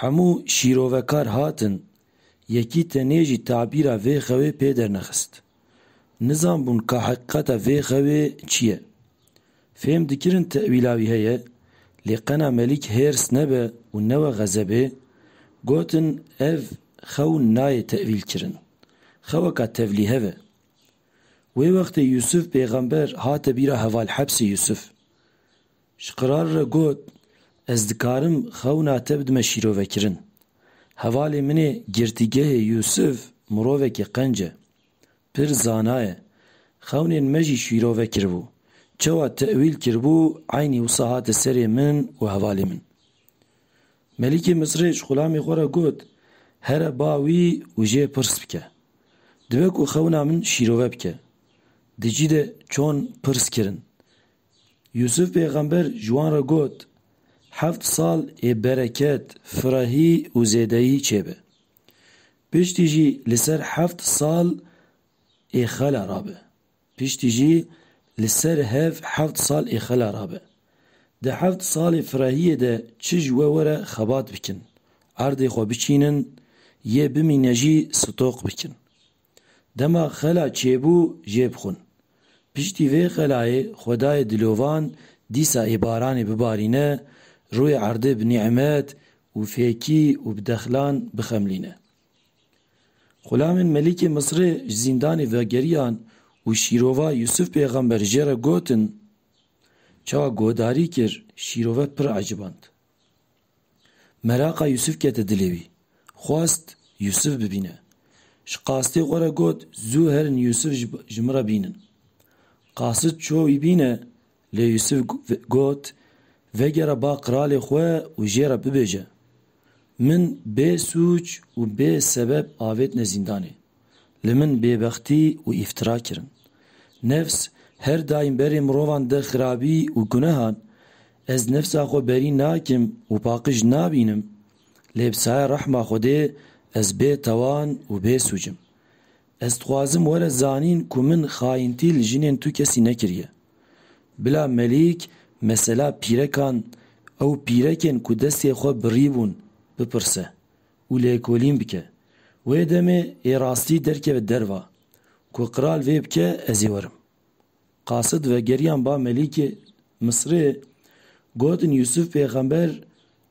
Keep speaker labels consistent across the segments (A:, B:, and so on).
A: Hemû şîrovekar hatin, yekî tenê jî tabîra vê xewê pê dernexist. Nizanbûn ka heqîqeta vê xewê çi ye. Fêm dikirin tewîla wî heye, lê qena Melîk hêrs nebe û newe xezebê, gotin ev xew nayê tewîlkirin, xeweka tevlîhev e. Wê wextê Yûsûf pêxember hate bîra hevalhepsê Yûsûf. Ji qirar re got, Ez dikarim xewna te bidime şîrovekirin. Hevalê min ê girtîgehê Yûsif mirovekî qenc e. Pir zana ye. Xewnên me jî şîrove kiribû. Çawa tewîl kiribû eynî wisa hate serê min û hevalê min. Melîkê Misrê ji xulamê xwe re got, Here ba wî û jê pirs bike. Dibe ku xewna min şîrove bike. Di cî de çon pirs kirin. Yûsûf pêxember ji wan re got, Heft sal ê bereket, firehî û zêdeyî çêbe. Piştî jî li ser heft sal ê xela rabe. Piştî jî li ser hev heft sal ê xela rabe. Di heft salê firehiyê de çi ji we were xebat bikin, erdê xwe biçînin, yê bimîne jî stoq bikin. Dema xela çêbû jê bixwin. Piştî vê xelayê xwedayê dilovan dîsa ê baranê bibarîne, rûyê erdê bi nîmet û fêkî û bi dexlan bixemlîne. Xulamên Melikê Misrê ji zîndanê vegeriyan û şîrova Yûsif pêxember jê re gotin, Çawa guhdarî kir, şîrove pir eciband. Meraqa Yûsif kete dilê wî. Xwest Yûsif bibîne. Ji qasitê xwe re got zû herin Yûsif ji min re bînin. Qasit çû wî bîne lê Yûsif got vegere ba qiralê xwe û jê re bibêje, Min bê sûc û bê sebeb avêtine zîndanê. Li min bêbextî û îftira kirin. Nefs her daîm berê mirovan de xirabî û gunehan. Ez nefsa xwe berî nakim û paqij nabînim. Lê bi saya rehma Xwedê ez bê tawan û bê sûc im. Ez dixwazim were zanîn ku min xayintî li jinên tu kesî nekiriye. Bila Melîk mesela pîrekan ew pîrekên ku destê xwe birîbûn bipirse. û lêkolîn bike. Wê demê ê rastî derkeve derva. Ku qral vê bike ez ê werim. Qasid vegeriyan ba Melîkê Misrê gotin Yûsûf pêxember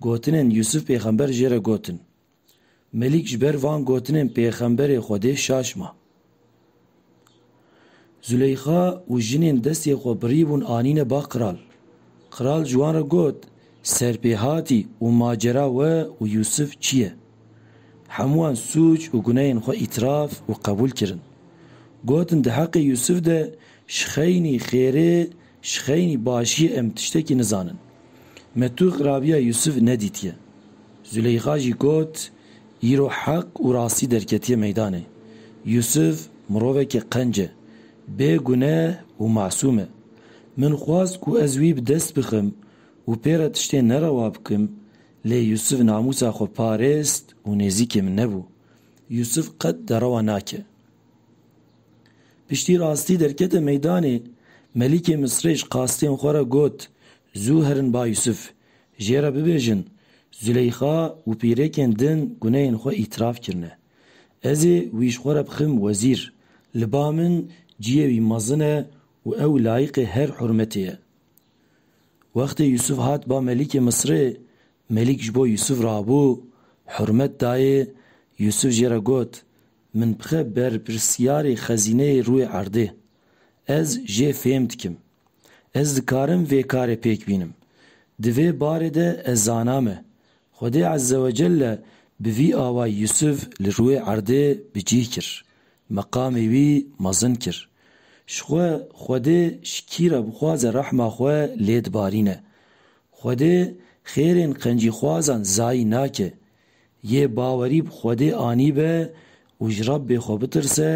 A: gotinên Yûsûf pêxember jê re gotin. Melîk ji ber van gotinên pêxemberê Xwedê şaş ma. Zûleyxa û jinên destê xwe birî bûn anîne ba kral. Kral ji wan re got, Serpêhatî û macera we û Yûsif çi ye? Hemû wan sûc û guneyên xwe îtiraf û qebûl kirin. Gotin di heqê Yûsif de ji xeynî, xêrê, Ji xeynî başiyê em tiştekî nizanin. Me tu xirabiya Yusuf nedîtiye. Zuleyxa jî got, Îro heq û rastî derketiye meydanê. Yusuf mirovekî qenc e, bê guneh û masûm e. Min xwest ku ez wî bi dest bixim û pê re tiştê nerewa bikim, lê Yusuf namûsa xwe parêst û nêzîkê min nebû. Yusuf qet derewa nake. Piştî rastî derkete meydanê, Melîkê Misrê ji qastên xwe re got, Zû herin ba Yûsif, jê re bibêjin, Zûleyxa û pîrêkên din gunehên xwe îtiraf kirine. Ez ê wî ji xwe re bixim wezîr. Li ba min ciyê wî mezin e û ew layiqê her hurmetê ye. Wextê Yûsif hat ba Melîkê Misrê, Melîk ji bo Yûsif rabû, hurmet dayê, Yûsif jê re got, Min bixe berpirsiyarê xezîneyê rûyê erdê. Ez jê fêm dikim. Ez dikarim vê karê pêk bînim. Di vê barê de ez zaname, Xwedê Ezzewecelle bi vî awayî Yûsûf li rûyê erdê bi cîh kir, meqamê wî mezin kir. Ji xwe Xwedê ji kî re bixwaze rehma xwe lê dibarîne. Xwedê xêrên qencîxwazan zayî nake. Yê bawerî bi Xwedê anîbe û ji Rebbê xwe bitirse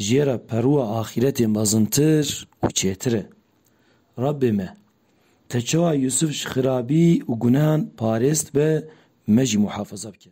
A: jê re perûa axîretê mezintir û çêtir e. Rebbê me! Te çawa Yûsif ji xirabî û gunehan parêst be, me jî muhafeze bike.